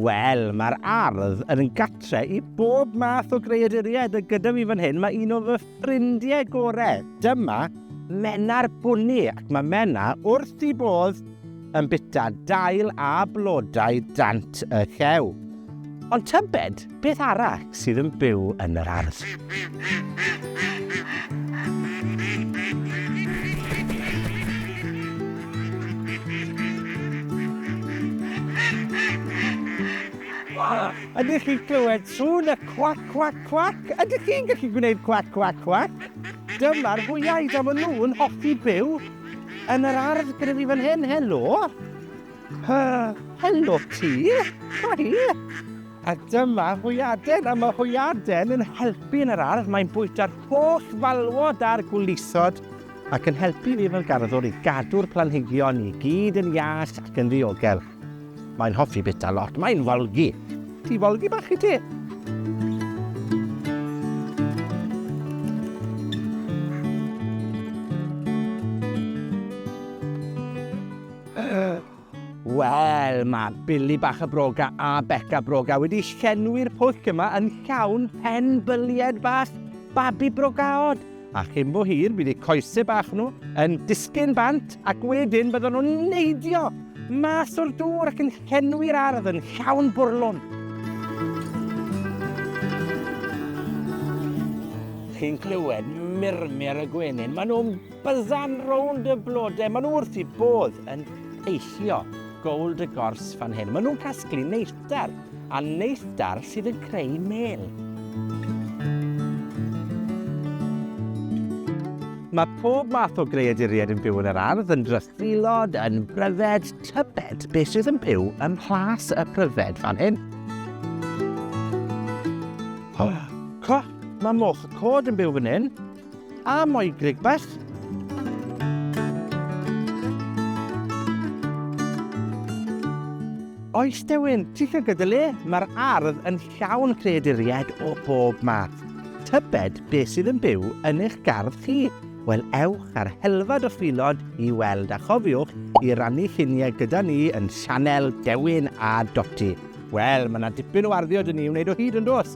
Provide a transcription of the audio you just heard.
Wel, mae'r ardd yn gatre i bob math o greaduriaid a gyda fi fan hyn mae un o fy ffrindiau gorau. Dyma Mena'r Bwni ac mae Mena wrth i bodd yn bita dail a blodau dant y llew. Ond tybed Beth arall sydd yn byw yn yr ardd? Ydych chi'n clywed sŵn y cwac, cwac, cwac? Ydych chi'n gallu gwneud cwac, cwac, cwac? Dyma'r hwyaid a maen nhw'n hoffi byw yn yr ardd gyda fi fan hyn. Helo! Hy, helo ti! Hi! A dyma hwyaden, a mae hwyaden yn helpu yn yr ardd, mae'n bwyta'r holl falwod a'r gwlithod ac yn helpu fi fel garddwr i gadw'r planhigion i gyd yn iach ac yn ddiogel. Mae'n hoffi bita lot, mae'n folgi. Ti folgi bach i ti? Wel, mae Billy bach y Broga a Beca Broga wedi llenwi'r pwll yma yn llawn pen bylied bach babi brogaod. A chyn bo hir, bydd eu coesau bach nhw yn disgyn bant ac wedyn byddwn nhw'n neidio mas o'r dŵr ac yn llenwi'r ardd yn llawn bwrlwn. Chi'n clywed murmur y gwenyn? Maen nhw'n Byzzan rownd y blode. Maen nhw wrth eu bodd yn eillio gold y gors fan hyn. Maen nhw'n casglu neithdar, a neithdar sydd yn creu mêl. Mae pob math o greaduriaid yn byw yn yr ardd, yn drythilod, yn bryfed, tybed beth sydd yn byw yn mhlas y pryfed fan hyn. Oh, co, mae moch y cod yn byw fan hyn. A moi grig bach. Oes Dewin, ti'n cael gyda le? Mae'r ardd yn llawn creaduriaid o bob math. Tybed beth sydd yn byw yn eich gardd chi? Wel, ewch ar helfad o ffilod i weld a chofiwch i rannu lluniau gyda ni yn sianel Dewin a Doti. Wel, mae yna dipyn o arddio dyn ni wneud o hyd yn dos.